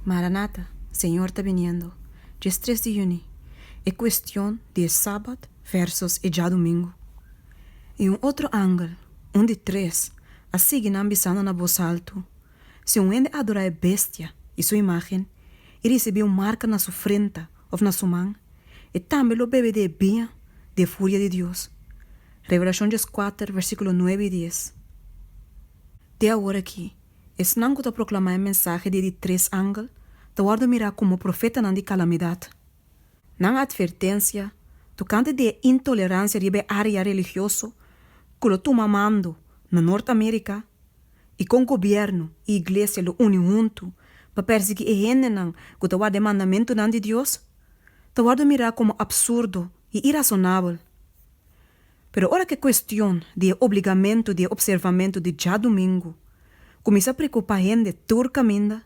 Maranata, Señor ta biniendo! Dje stres di yüni, e cuestion di e Sabat versus e djadumingu. I un otro angel, un di tres, a sigui nan bisando na bos altu, Si un hende adora e Bestia i su imagen, i ricibi un marca na su frenta of na su man, e tambe lo bebe di e biña di e furia di Dios. Revelacion djeskuater, versiculo nuebe i dies. Te aworaki, Esnan ku ta proklamá e mensahe di e di tres angel ta wòrdu mirá komo profetanan di kalamidat. Nan atvertensia tokante di e intoleransia riba e área religioso ku lo tuma mando na Nort Amerika i kon gobièrnu i iglesia lo uni huntu pa pèrsiguí e hendenan ku ta warda e mandamentunan di Dios ta wòrdu mirá komo apsurdo i irasonabel. Pero ora ku e kuestion di e obligamentu di e opservamentu di djadumingu kuminsá preokupá hende tur kaminda,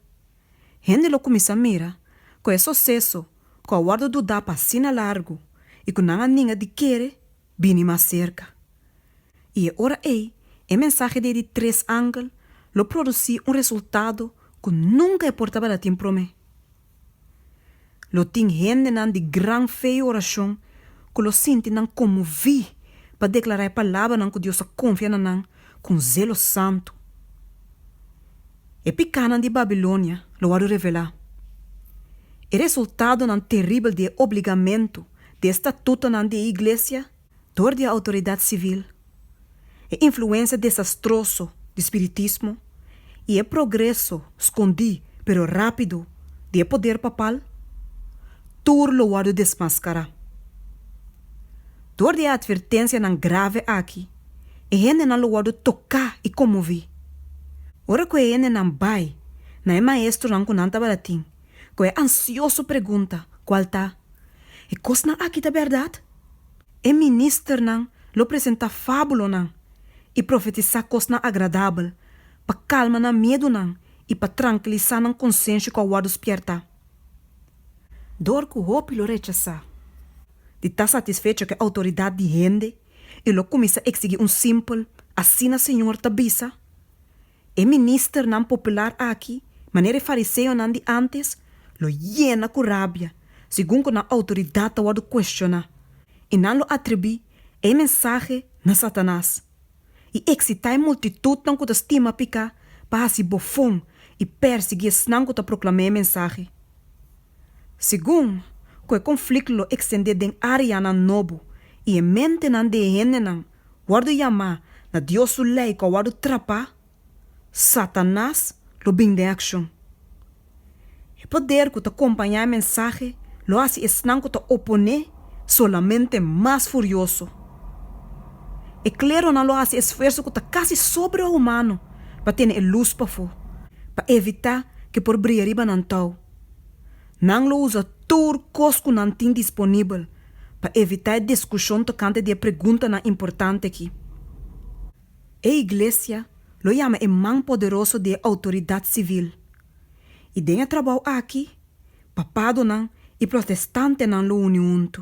hende lo kuminsá mira ku e soseso ku a wòrdu dudá pa asina largu i ku nan a ninga di kere bini mas serka. I e ora ei e mensahe di e di tres angel lo produsí un resultado ku nunka e por tabata tin promé. Lo tin hendenan di gran fe i orashon ku lo sinti nan konmoví pa deklará e palabranan ku Dios a konfia na nan ku un zelo santu. E pikánan di Babilonia lo wòrdu revelá. E resultadonan teribel di e obligamentu, di e statutonan di e iglesia, dor di e outoridat sivil, e influensia desastroso di spiritismo i e progreso skondí pero rápido di e poder papal, tur lo wòrdu desmaskará. Dor di e atvertensianan grave aki, e hendenan lo wòrdu toká i konmoví. Ora ku e hendenan bai na e maestronan ku nan tabata tin ku e ansioso pregunta kual ta, E kosnan aki ta bèrdat? E ministernan lo presentá fábulonan i profetisá kosnan agradabel pa kalma nan miedunan i pa trankilisá nan konsensio ku a wòrdu spièrtá. Dor ku hopi lo rechasá di ta satisfecho ku e outoridat di hende i lo kuminsá eksigí un simpel, Asina Señor ta bisa, E ministernan popular aki, manera e fariseonan di ántes, lo yena ku rabia segun ku nan outoridat ta wòrdu kuestioná, i nan lo atribui e mensahe na Satanas, i eksitá e multitutnan ku ta stima piká pa hasi bofon i pèrsiguí esnan ku ta proklamá e mensahe. Segun ku e konflikt lo ekstendé den áreanan nobo i e mentenan di e hendenan, wòrdu yamá na Dios su lei ku a wòrdu trapá, Satanas lo bin den akshon. E poder ku ta kompañá e mensahe lo hasi esnan ku ta oponé solamente mas furioso. E kleronan lo hasi esfuerso ku ta kasi sobrehumano pa tene e lus pafó, pa evitá ku e por bria riba nan tou. Nan lo usa tur kos ku nan tin disponibel pa evitá e diskushon tokante di e preguntanan importante akí. E Iglesia lo yama e man poderoso di e outoridat sivil. I den e trabou akí, papadonan i protestantenan lo uni huntu.